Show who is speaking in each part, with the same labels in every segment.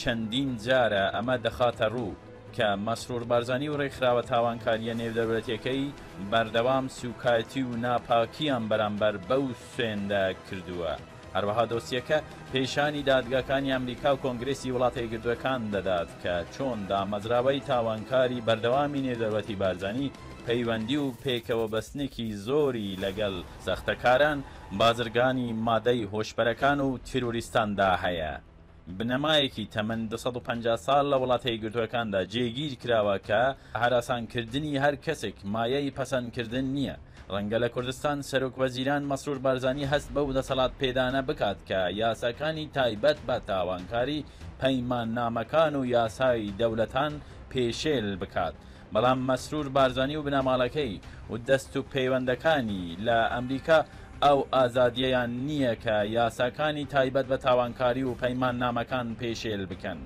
Speaker 1: چەندین جارە ئەمە دەخاتە ڕوو کە مەسرور بارزانی و ڕێکخراوە تاوانکارییە نێودەولەتیەکەی بەردەوام سوکایتی و ناپاکییان بەرامبەر بەو سوێندە کردووە. هەروەها دۆسیەکە پێشانی دادگاکانی ئەمریکا و کۆنگرێسی وڵاتە یەکگرتووەکان دەدات کە چۆن دامەزراوەی تاوانکاری بەردەوامی نێودەولەتی بارزانی پەیوەندی و پێکەوەبەستنێکی زۆری لەگەڵ سەختەکاران، بازرگانی مادەی هۆشبەرەکان و تیرۆریستاندا هەیە. بنەمایەکی تەمەن دوو سەد و پەنجا ساڵ لە وڵاتە یەکگرتووەکاندا جێگیر کراوە کە هەراسانکردنی هەر کەسێک مایەی پەسەندکردن نییە. ڕەنگە لە کوردستان سەرۆکوەزیران مەسرور بارزانی هەست بەو دەسەڵاتپێدانە بکات کە یاساکانی تایبەت بە تاوانکاری پەیماننامەکان و یاسای دەولەتان پێشێل بکات، بەڵام مەسرور بارزانی و بنەماڵەکەی و دەست و پەیوەندەکانی لە ئەمریکا ئەو ئازادیەیان نیە کە یاساکانی تایبەت بە تاوانکاری و پەیماننامەکان پێشێل بکەن.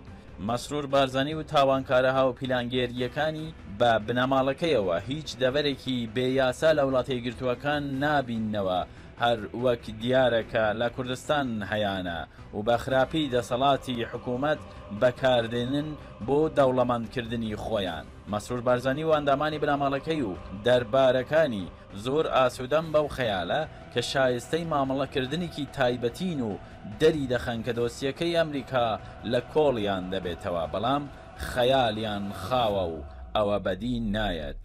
Speaker 1: مەسرور بارزانی و تاوانکارە هاوپیلانگێریەکانی بە بنەماڵەکەیەوە هیچ دەڤەرێکی بێ یاسا لە وڵاتەیەکگرتوەکان نابیننەوە هەر وەک دیارە کە لە کوردستان هەیانە و بە خراپی دەسەڵاتی حکوومەت بە کار دێنن بۆ دەوڵەمەند کردنی خۆیان. مەسرور بارزانی و ئەندامانی بنەماڵەکەی و دەربارەکانی زۆر ئاسوودەن بەو خەیالە کە شایستەی مامەڵە کردنێکی تایبەتین و دەری دەخەن کە دۆسیەکەی ئەمریکا لە کۆڵیان دەبێتەوە بەڵام خەیالیان خاوە و ئەوە بەدی نایەت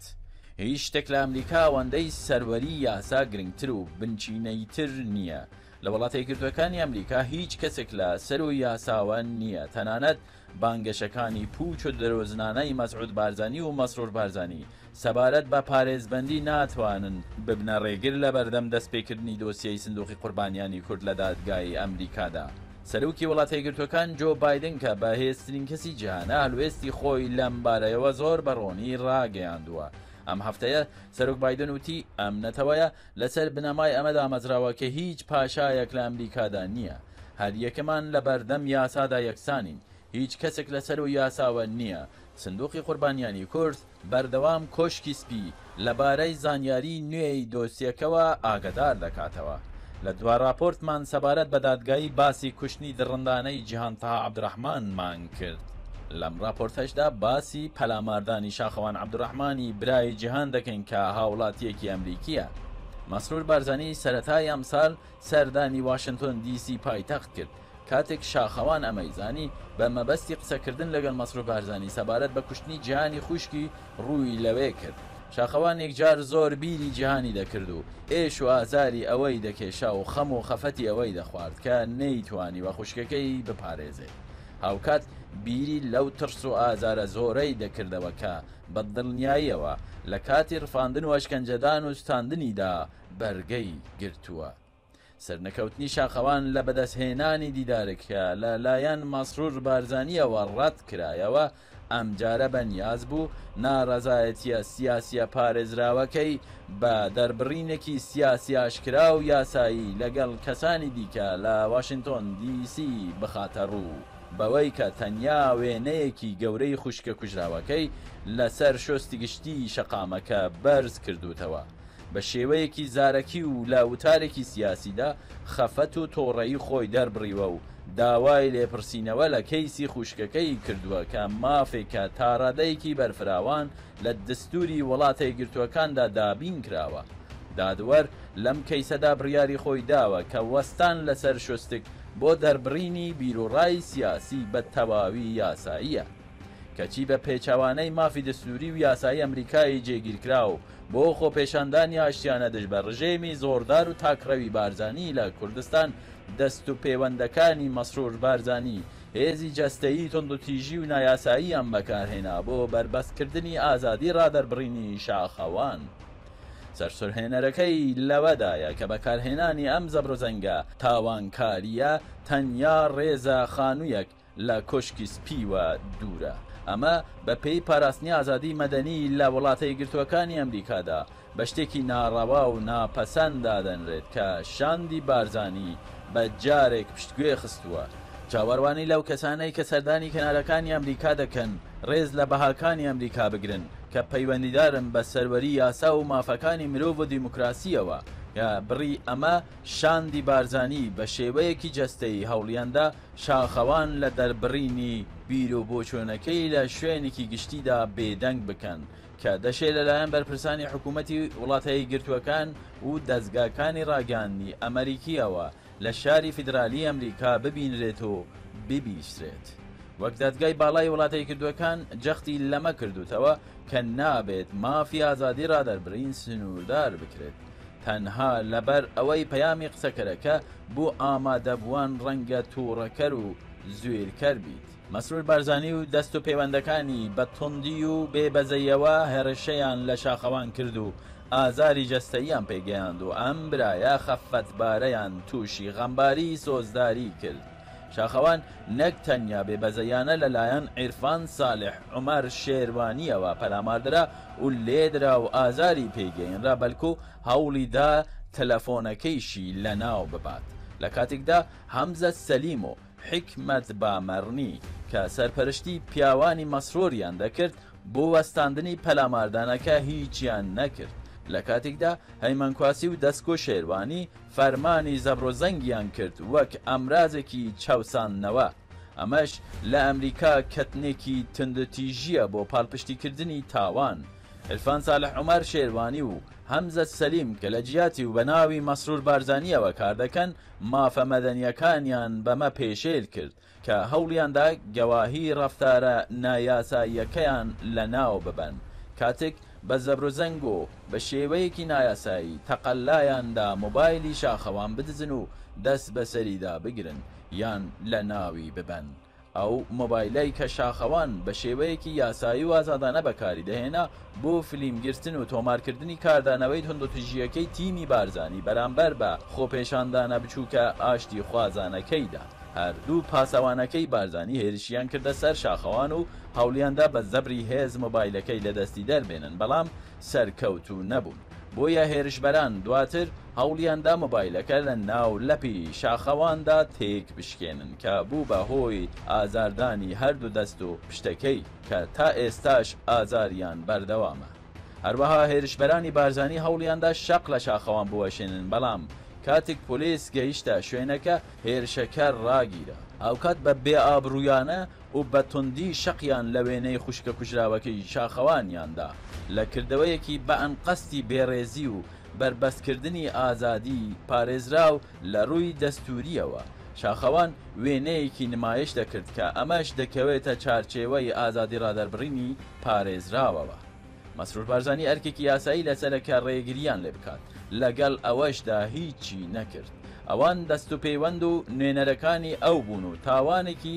Speaker 1: هیچ شتێک لە ئەمریکا ئەوەندەی سەروەری یاسا گرنگتر و بنچینەییتر نییە. لە وڵاتە یەکگرتووەکانی ئەمریکا هیچ کەسێک لە سەروو یاساوە نییە، تەنانەت بانگەشەکانی پووچ و درۆزنانەی مەسعود بارزانی و مەسرور بارزانی سەبارەت بە پارێزبەندی ناتوانن ببنە ڕێگر لەبەردەم دەستپێکردنی دۆسیەی سندوقی قوربانیانی کورد لە دادگای ئەمریکادا. سەرۆکی وڵاتەیەکگرتووەکان جۆ بایدن کە بەهێزترین کەسی جیهانە هەڵوێستی خۆی لەم بارەیەوە زۆر بە ڕوونی ڕاگەیاندووە ئەم هەفتەیە سەرۆک بایدن وتی ئەم نەتەوەیە لەسەر بنەمای ئەمە دامەزراوە کە هیچ پاشایەک لە ئەمریکادا نییە هەریەکەمان لەبەردەم یاسادا یەکسانین هیچ کەسێک لەسەرو یاساوە نییە سندوقی قوربانیانی کورد بەردەوام کۆشکی سپی لەبارەی زانیاریی نوێی دۆسیەکەوە ئاگەدار دەکاتەوە. لە دوا راپۆرتمان سەبارەت بە دادگایی باسی کوشتنی دڕندانەی جیهان تەها عەبدورەحمانمان کرد. لەم راپۆرتەشدا باسی پەلاماردانی شاخەوان عەبدورەحمانی برای جیهان دەکەین کە هاوڵاتییەکی ئەمریکییە. مەسرور بارزانی سەرەتای ئەمسال سەردانی واشنتۆن دی سی پایتەخت کرد. کاتێک شاخەوان ئەمەی زانی، بە مەبەستی قسەکردن لەگەڵ مەسرور بارزانی سەبارەت بە کوشتنی جیهانی خوشکی، رووی لەوێ کرد. شاخەوان یەکجار زۆر بیری جیهانی دەکرد و ئێش و ئازاری ئەوی دەکێشا و خەم و خەفەتی ئەوەی دەخوارد کە نەیتوانیوە خوشکەکەی بپارێزێت. هاوکات بیری لەو ترس و ئازارە زۆرەی دەکردەوە کە بە دڵنیاییەوە لە کاتی رفاندن و ئەشکەنجەدان و سوتاندنیدا بەرگەی گرتووە. سەرنەکەوتنی شاخەوان لە بەدەستهێنانی دیدارەکە لە لایەن مەسرور بارزانییەوە ڕەت کرایەوە، ئەمجارە بە نیاز بوو ناڕەزایەتییە سیاسییە پارێزراوەکەی بە دەربڕینێکی سیاسی ئاشکرا و یاسایی لەگەڵ کەسانی دیکە لە واشنتۆن دی سی بخاتە ڕوو بەوەی کە تەنیا وێنەیەکی گەورەی خوشکە کوژراوەکەی لەسەر شۆستی گشتیی شەقامەکە بەرز کردووتەوە. بە شێوەیەکی زارەکی و لە وتارێکی سیاسیدا خەفەت و تۆڕەیی خۆی دەربڕیوە و داوای لێپرسینەوە لە کەیسی خوشکەکەی کردووە کە مافێکە تاڕادەیەکی بەرفراوان لە دەستوری وڵاتە یەکگرتووەکاندا دابین کراوە دادوەر لەم کەیسەدا بڕیاری خۆی داوە کە وەستان لەسەر شوستک بۆ دەربڕینی بیروڕای سیاسی بە تەواوی یاساییە کەچی بە پێچەوانەی مافی دەستوری و یاسایی ئەمریکای جێگیرکراو بۆ خۆپێشاندانی ئاشتیانە دژ بە ڕژێمی زۆردار و تاکڕەوی بارزانی لە کوردستان، دەست و پێوەندەکانی مەسرور بارزانی هێزی جەستەیی توندوتیژی و نایاساییان بەکارهێنا بۆ بەربەستکردنی ئازادی ڕادەربڕینی شاخەوان. سەرسورهێنەرەکەی لەوەدایە کە بەکارهێنانی ئەم زەبروزەنگە تاوانکارییە تەنیا ڕێزە خانویەک، لە کۆشکی سپیوە دوورە. ئەمە بە پێی پاراستنی ئازادی مەدەنی لە وڵاتە یەکگرتووەکانی ئەمریکادا، بە شتێکی ناڕەوا و ناپەسەند دادەنرێت کە شاندی بارزانی بە جارێک پشتگوێ خستووە. چاوەروانی لەو کەسانەی کە سەردانی کەنارەکانی ئەمریکا دەکەن ڕێز لە بەهاکانی ئەمریکا بگرن کە پەیوەندیدارن بە سەروەری یاسا و مافەکانی مرۆڤ و دیموکراسییەوە کە بڕی ئەمە شاندی بارزانی بە شێوەیەکی جەستەیی هەوڵیاندا شاخەوان لە دەربڕینی بیر و بۆچوونەکەی لە شوێنێکی گشتیدا بێدەنگ بکەن کە دەشێ لەلایەن بەرپرسانی حکوومەتی وڵاتە یەکگرتووەکان و دەزگاکانی ڕاگەیاندنی ئەمەریکییەوە لە شاری فیدرالیی ئەمریکا ببینرێت و ببیسترێت وەک دادگای باڵای وڵاتە یەکگردووەکان جەختی لەمە کردووتەوە کە نابێت مافی ئازادی ڕادەربڕین سنووردار بکرێت تەنها لەبەر ئەوەی پەیامی قسەکەرەکە بۆ ئامادەبووان ڕەنگە توڕەکەر و زویرکەر بیت. مەسرور بارزانی و دەست و پێوەندەکانی بە توندی و بێ بەزەیەوە هەرشیان لە شاخەوان کرد و ئازاری جەستەییان پێگەیاند و ئەم برایە خەفەتبارەیان توشی غەمباری سۆزداری کرد. شاخەوان نەک تەنیا بێ بەزەیانە لە لایەن عیرفان سالح عومەر شێروانییەوە پەلاماردرا و لێدرا و ئازاری پێ گەینرا بەلکو هەوڵی دا تەلەفۆنەکەیشی لە ناو ببات لە کاتیکدا هەمزە سەلیم و حیکمەت بامەرنی کە سەرپەرشتی پیاوانی مەسروریان دەکرد بۆ وەستاندنی پەلاماردانەکە هیچیان نەکرد لە کاتیکدا هەیمەن کواسی و دەسکۆ شێروانی فەرمانی زەبروزەنگیان کرد وەک ئامرازێکی چاوساندنەوە، ئەمەش لە ئەمریکا کەتنێکی توندوتیژییە بۆ پاڵپشتیکردنی تاوان. عیرفان سالح عومەر شێروانی و هەمزە سەلیم کە لە جیاتی و بە ناوی مەسرور بارزانییەوە کاردەکەن، مافە مەدەنییەکانیان بەمە پێشێل کرد. کە هەوڵیاندا گەواهی ڕەفتارە نایاساییەکەیان لەناو ببەن، کاتێک بە زەبروزەنگ و بە شێوەیەکی نایاسایی تەقەلایان دا مۆبایلی شاخەوان بدزن و دەست بەسەریدا بگرن یان لەناوی ببەن، ئەو مۆبایلەی کە شاخەوان بە شێوەیەکی یاسایی و ئازادانە بەکاری دەهێنا بۆ فیلم گرتن و تۆمارکردنی کاردانەوەی توندوتیژییەکەی تیمی بارزانی بەرامبەر بە خۆپێشاندانە بچووکە ئاشتیخوازانەکەیدا، هەردوو پاسەوانەکەی بارزانی هێرشیان کردە سەر شاخەوان و هەوڵیاندا بە زەبری هێز مۆبایلەکەی لەدەستی دەربێنن، بەڵام سەرکەوتوو نەبوون، بۆیە هێرشبەران دواتر هەوڵیاندا مۆبایلەکە لە ناو لەپی شاخەواندا تێکبشکێنن کە بوو بە هۆی ئازاردانی هەردوو دەست و پشتەکەی. کە تا ئێستاش ئازاریان بەردەوامە. هەروەها هێرشبەرانی بارزانی هەوڵیاندا شەق لە شاخەوان بوەشێنن، بەڵام کاتیک پۆلیس گەیشتە شوێنەکە هێرشەکە راگیرا. هاوکات بە بێئابرویانە و بە توندی شەقیان لە وێنەی خوشکە کوژراوەکەی شاخەوانیان دا، لە کردەوەیەکی بە ئەنقەستی بێڕێزی و بەربەستکردنی ئازادی پارێزراو لە ڕووی دەستوورییەوە، شاخەوان وێنەیەکی نمایش دەکرد کە ئەمەش دەکەوێتە چارچێوەی ئازادی ڕادەربڕینی پارێزراوەوە. مەسرور بارزانی ئەرکێکی یاسایی لەسەرە کە ڕێگرییان لێ بکات، لەگەڵ ئەوەشدا هیچی نەکرد. ئەوان دەستوپێوەند و نوێنەرەکانی ئەو بوون و تاوانێکی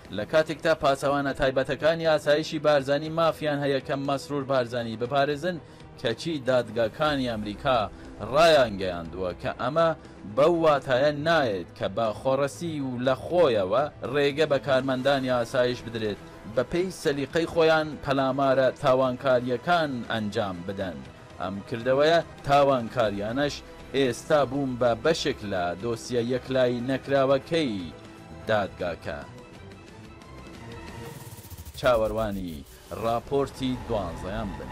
Speaker 1: لە کاتێکدا پاسەوانە تایبەتەکانی ئاسایشی بارزانی مافیان هەیە کە مەسرور بارزانی بپارێزن، کەچی دادگاکانی ئەمریکا ڕایانگەیاندووە کە ئەمە بەو واتایە نایەت کە بە خۆڕسکی و لە خۆیەوە ڕێگە بە کارمەندانی ئاسایش بدرێت بەپێی سەلیقەی خۆیان پەلامارە تاوانکارییەکان ئەنجام بدەن، ئەم کردەوەیە تاوانکارییانەش ئێستا بوون بە بەشێک لە دۆسیە یەکلایی نەکراوەکەی دادگاکە چاوەروانی ڕاپۆرتی دوانزەیان بن.